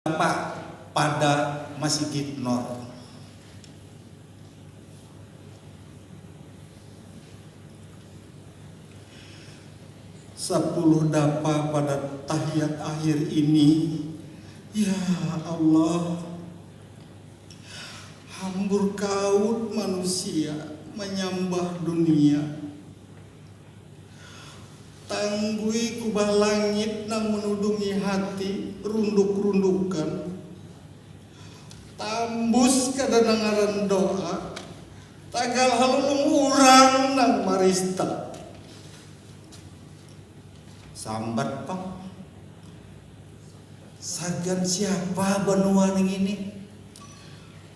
Bapak pada masigit nor. Sapuluh dapa pada tahiyat akhir ini ya Allah hambur kaut manusia manyambah dunia. Tanggui kubah langit nang menudungi hati runduk-rundukan. Tambus kadanangaran doa, tagal halulung urang nang marista. Sambat pang, sagan siapa banua nangini,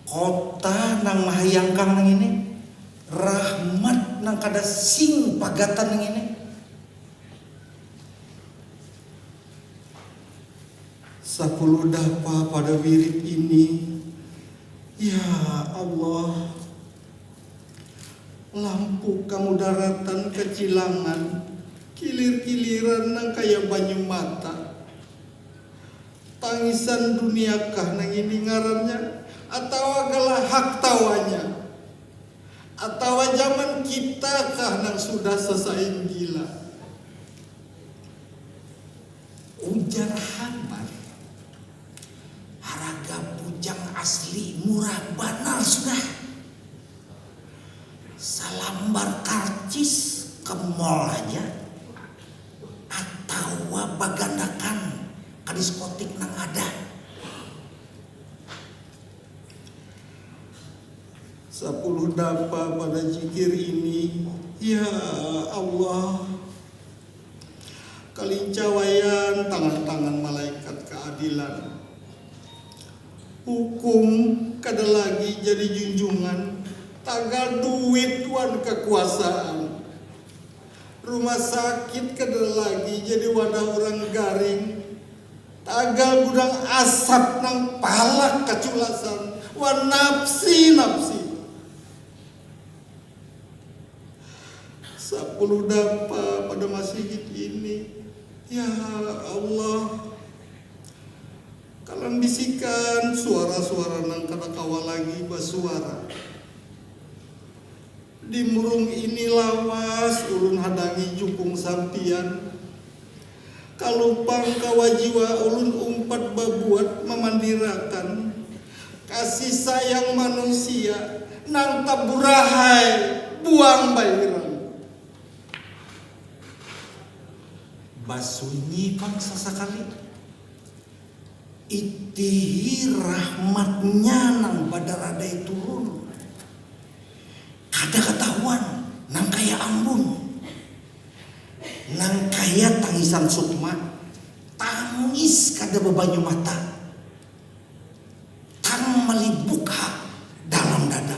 kota nang mahayangkang nangini? Rahmat nang kada sing pagatan ngini. Sapuludah pa pada wirid ini. Ya Allah. Lampu ka mudaratan ka cilangan, kilir-kiliran nang kaya banyu mata. Tangisan duniakah nang ini ngarannya atawa galahak tawanya. Atawa jaman kita kah nang sudah sasain gila? Ujar Hambar, haraga bujang asli murah banar sudah. Salambar karcis ke mall haja atawa bagandakan ka diskotik nang ada. Sapuluh napa pada jikir ini ya Allah Kalinca wayang tangan-tangan malaikat kaadilan Hukum kada lagi jadi junjungan tagal duit wan kakuasaan Rumah sakit kada lagi jadi wadah urang garing Tagal gudang asap nang palak kaculasan wan napsi-napsi. Sapuluh dapa pada masigit ini. Ya Allah. Kalan bisikan suara-suara nang kada kawa lagi basuara. Di murung ini lawas ulun hadangi jukung sampiyan. Kalupang kawa jiwa ulun umpat babuat mamandirakan kasih sayang manusia nang taburahai buang bahiran. Basunyi pang sasakali. Itihi rahmatnya nang badaradai turun. Kada katahuan nang kaya ambun. Nang kaya tangisan Sukma, tangis kada babanyu mata. Tang malibuk ha dalam dada.